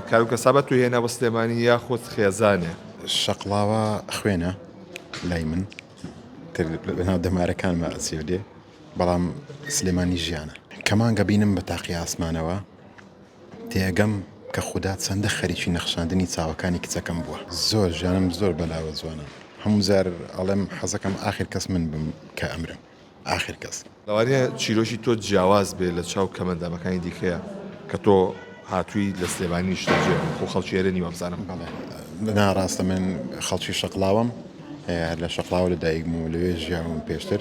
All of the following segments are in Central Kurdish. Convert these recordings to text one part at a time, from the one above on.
کاروو کەسابە توو هێنە بۆ سلێمانی یاخود خێزانێ. شەقڵاوە خوێنە لای من لەناو دەمارەکانمە ئەچێ لێ بەڵام سلێمانی ژیانە کەمان گەبینم بە تاقی ئاسمانەوە تێگەم کە خوددا چەندە خەریکی نەخشاندنی چاوەکانی کچەکەم بووە زۆر ژیانم زۆر بەلاوە جوانە هەموو جار ئەڵێم حەزەکەم ئاخر کەس من بم کە ئەمرم. ئاخر کەس. لەوانەیە چیرۆکی تۆ جیاواز بێ لە چاو کەمەندامەکانی دیکەیا کە تۆ هاتووی لە سلێمانی نیشتە جێ خۆ خەڵکی ئێرە نی وابزانم بەڵێ نا ڕاستە من خەڵکی شەقڵاوەم هەر لە شەقڵاوە لە دایکم و لەوێ ژیاوم پێشتر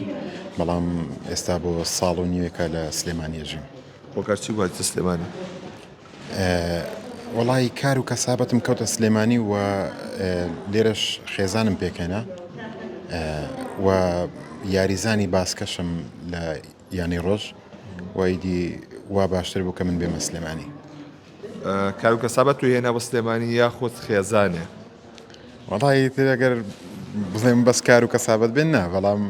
بەڵام ئێستا بۆ ساڵ و نیوێکە لە سلێمانیە ژیم. هۆکار چی بوو هاتیتە سلێمانی؟ وەڵایی کار و کەسابەتم کەوتە سلێمانی و لێرەش خێزانم پێکهێنا و یاریزانی باسکەشم لە یانەی ڕۆژ و ئیدی وا باشتر بوو کە من بێمە سلێمانی. کار و کەسابەت توی هێنا بۆ سلێمانی یاخود خێزانێ؟ وەڵایی تر ئەگەر بڵێم بەس کار و کەسابەت بێ نا بەڵام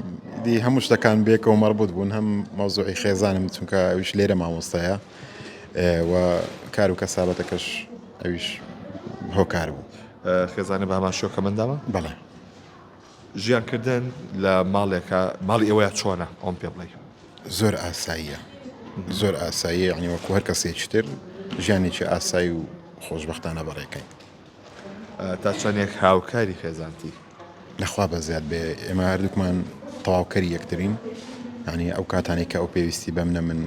دی هەموو شتەکان بێکەوە مەڕبوط بوون هەم مەوزوعی خێزانم چونکە ئەویش لێرە مامۆستایە و کار و کەسابەتەکەش ئەویش هۆکار بوو خێزانە بە هەمان شۆکە منداوە بەڵێ ژیانکردن لە ماڵێکە ماڵی ئێوەیە چۆنە ئەوم پێ بڵێ زۆر ئاساییە زۆر ئاساییە عنی وەکو هەر کەسێکی تر ژیانێکی ئاسایی و خۆشببختانە بەڕێکەین تا چەندێک هاوکاری خێزانتی؟ لەخوا بەزیاد بێ ئێمە هەردووکمان تەواوکەری یەکترین ینی ئەو کاتانی کە ئەو پێویستی بە منە من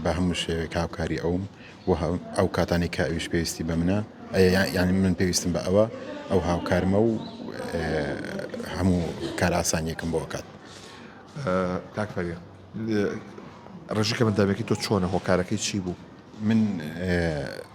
بە هەموو شێوێک هاوکاری ئەوم و ئەو کاتانی کە ئەویش پێویستی بە منە یانی من پێویستم بە ئەوە ئەو هاوکارمە و هەموو کاراسانیەکم بۆ کات کاکفەری ڕژەکە من دامێکی تۆ چۆنە هۆکارەکەی چی بوو من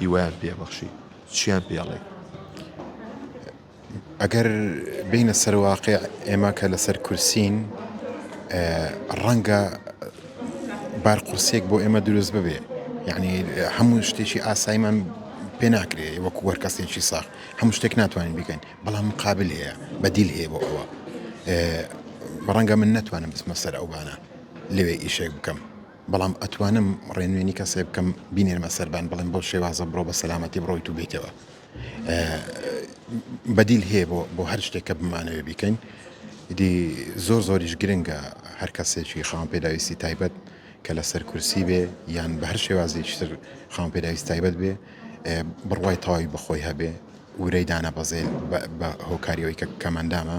هیوایان پێ بەخشی چیان پێڵێ ئەگەر بینە سەرواقع ئێمە کە لەسەر کورسین ڕەنگە بار قورسێک بۆ ئێمە دروست ببێ یعنی هەموو شتێکی ئاسایمان پێ ناکرێ وەکو وەر کەسێکی ساخ هەموو شتێک ناتوانین بکەین بەڵام مقابل هەیە بەدیل هەیە بۆ ئەوە ڕەنگە من نتوانم بسمە سەر ئەوانە لەوێ ئیشێک بکەم بەڵام ئەتوانم ڕێنوێنی کەسێ بکەم بینێرمە سەربان بڵێم بەو شێوازە بڕۆ بە سەلامەتی بڕۆیت و بێتەوە بەدیل هەیە بۆ بۆ هەر شتێک کە بمانەوێ بیکەین دی زۆر زۆریش گرنگە هەر کەسێکی خاوم پێداویستی تایبەت کە لەسەر کورسی بێ یان بە هەر شێوازێکتر خاوم پێداویست تایبەت بێ بڕوای تەواوی بەخۆی هەبێ ورەی دانە بەزێن بە هۆکاریەوەی کە کەمەندامە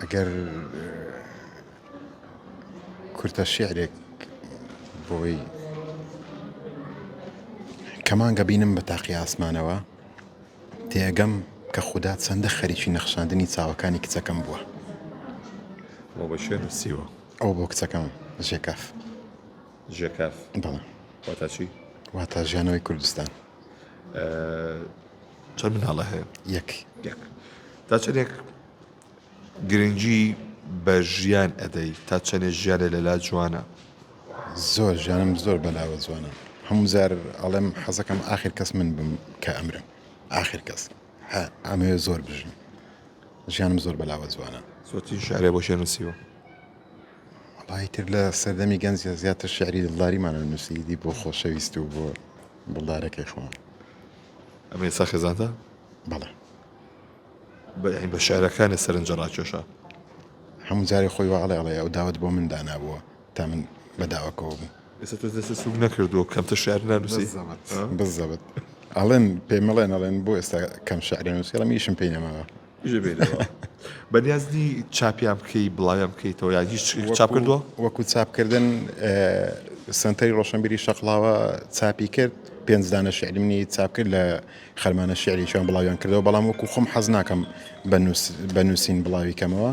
ئەگەر کورتە شعرێک بۆی کەمانگە بینم بە تاقی ئاسمانەوە تێگەم کە خوددا چەندە خەریکی نەخشاندنی چاوەکانی کچەکەم بووە بۆ بە شێر سیوە ئەو بۆ کچەکەم ژێکاف ژێکاف بەڵێ واتاچی واتا ژیانەوەی کوردستان چەند مناڵە هەیە یەک تا چەندێک گرنگی بە ژیان ئەدەی تا چەندێ ژیانە لەلا جوانە زۆر ژیانم زۆر بەلاوە جوانە هەموو جار ئەڵێم حەزەکەم آخر کەس من بم کە ئەمرم آخر کەس ئەمەوێ زۆر بژم ژیانم زۆر بەلاوە جوانە زۆتی شارێ بۆ شێنوسیوە وەڵایی تر لە سەردەمی گەنج زیاتر شعری دڵداریمان ئەنووسی دی بۆ خۆشەویست و بۆ دڵدارەکەی خۆمان ئەمە ئێستا خێزانتە؟ بەڵێ بە بە شعرەکانت سەرنجە ڕاکێشا هەموو جارێ خۆی وە ئەڵێ ئەڵێ ئەو داوت بۆ من دانابووە تا من بە داواکەوە بووم ئێستا تۆ دەست سوک نەکردو کەمتە شعر نانووسی بزەبت بزەبت ئەڵێن پێمەڵێن ئەڵێن بۆ ئێستا کەم شعرێن نووسی ئەڵێم ئیشم پێی نەماوە بژێبێرەوە بەنیاز نی چاپیان بکەی بڵاویان بکەیتەوە یان هیچ چاپ کردووە وەکو چاپکردن سنتەری ڕۆشنبیری شەقڵاوە چاپی کرد پێنجدانە شعری منی چاپ کرد لە خەرمانە شعریشان بڵاویان کردەوە بەڵام وەکو خۆم حەز ناکەم بە نووسین بڵاوی کەمەوە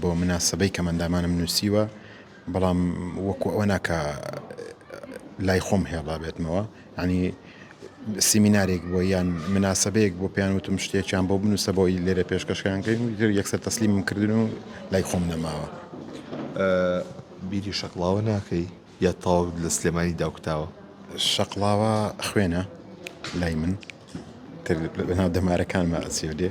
بۆ مناسەبەی کەمئەندامانم نوسیوە بەڵام وەکو ئەوە نا کە لای خۆم هێڵا بێتمەوە ینی سیمینارێک بۆ یان مناسەبەیەک بۆ پێیان وتم شتێکیان بۆ بنووسە بۆی لێرە پێشکەشکان کرد یەکسەر تەسلیمم کردن و لای خۆم نەماوە بیری شەقڵاوە ناکەی یا تاوەک لە سلێمانی داوکتاوە شەقڵاوە خوێنە لای من تر لەناو دەمارەکانمە ئەچێ دێ